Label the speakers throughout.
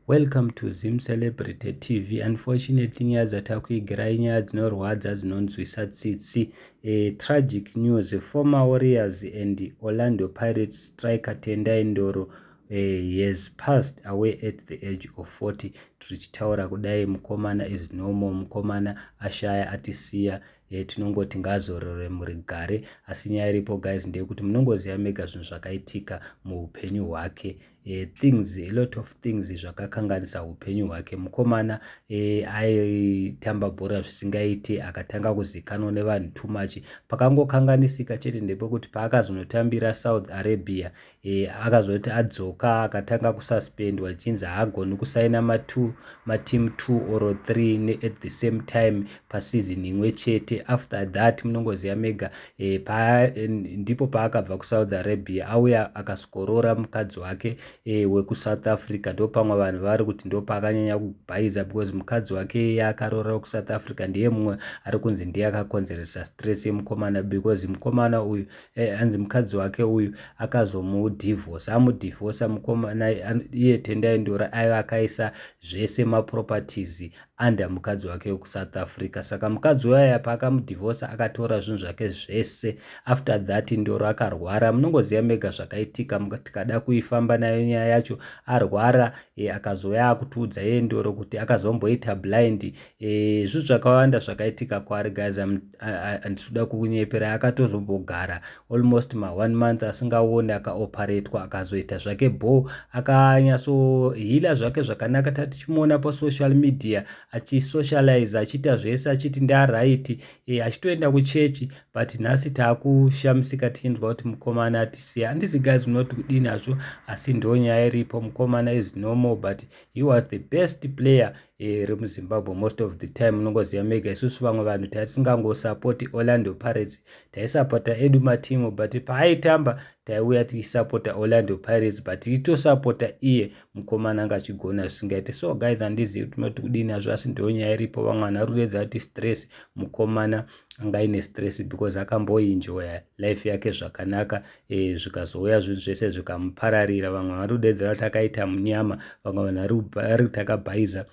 Speaker 1: Welcome to Zim Celebrity TV. Unfortunately nyaya dzatakuigirai nyaya dzinorwadza dzinonzwisa tsitsi. A tragic news. Former Warriors and Orlando Pirates striker Tendai Ndoro uh, he has passed away at the age of 40 tichitaura kudai mukomana is normal mukomana ashaya atisiya e, tinongoti ngaazorore muri gare asi nyaya iripo guys ndeyekuti munongoziva mega zvinhu zvakaitika muupenyu hwake e, things a lot of things zvakakanganisa upenyu hwake mukomana e, aitamba bhora zvisingaiti akatanga kuzikanwa nevanhu too much pakangokanganisika chete ndepekuti paakazonotambira south arabia e, akazoti adzoka akatanga kususpendwa chinzi haagoni kusaina matu mateam two or three at the same time pasizin imwe chete after that munongoziva mega e, pa, e, ndipo paakabva kusaudi arabia auya akasvikoroora mukadzi wake e, wekusouth africa ndo pamwe vanhu vari kuti ndo paakanyanya kubhaiza because mukadzi wake iye akaroora wekusouth africa ndiye mumwe ari kunzi ndiye akakonzeresa stress yemukomana because mukomana uyu e, anzi mukadzi wake uyu akazomudivhosa amudivhosa mukomana iye tendai ndora aiva akaisa zvese maproperties under mukadzi wake wekusouth africa saka mukadzi waya paakamudivhosa akatora zvinhu zvake zvese after that ndoro akarwara munongoziva mega zvakaitika tikada kuifamba nayo nyaya yacho arwara e, akazouya akutiudza yeye ndoro kuti akazomboita blind e, zvinhu zvakawanda zvakaitika kwaari guys I'm handitoda kukunyepera akatozombogara almost ma one month asingaone akaoparetwa akazoita zvake bho akanyasohila zvake zvakanaka tatichimuona pasocial media achisocialize achiita zvese achiti ndaraiti e, eh, achitoenda kuchechi but nhasi taakushamisika tichinzwa kuti mukomana atisiya handisi guys unoti kudini hazvo asi ndonyaya iripo mukomana is normal but he was the best player Eh, iri muzimbabwe most of the time unongoziva mega isusu vamwe vanhu tatisingangosapoti orlando pirates taisapota edu matimu but paaitamba taiuya tichisapota orlando pirates but itosapota iye mukomana anga achigona zvisingaite so guys handizivi tinoti kudini azvo asi ndiyo nyaya iripo vamwe vanhu varuredza kuti stress mukomana anga ine stress because akamboinjoya life yake zvakanaka e, zvikazouya zvinhu zvese zvikamupararira vamwe vari kudedzera kuti akaita munyama vamwe vanhu vari kuti akabhaiza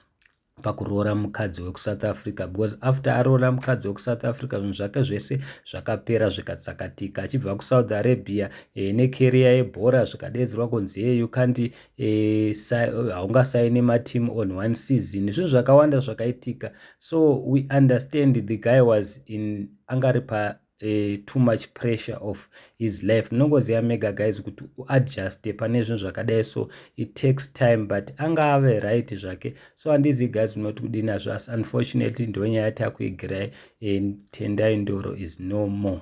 Speaker 1: pakuroora mukadzi wekusouth africa because after aroora mukadzi wekusouth africa zvinhu zvake zvese zvakapera zvikatsakatika achibva kusouth arabia e, nekeriya yebhora zvikadeedzerwa kunzi ye you can't e, eh, haungasaini mateam on one season zvinhu zvakawanda zvakaitika so we understand the guy was in angari pa uh, too much pressure of his life ndinongoziva mega guys kuti uadjuste pane zvinhu zvakadai so it takes time but anga ave right zvake so handizi guys unoti kudii nazvo asi unfortunately ndo nyaya yatakuigirai and tendai ndoro is no more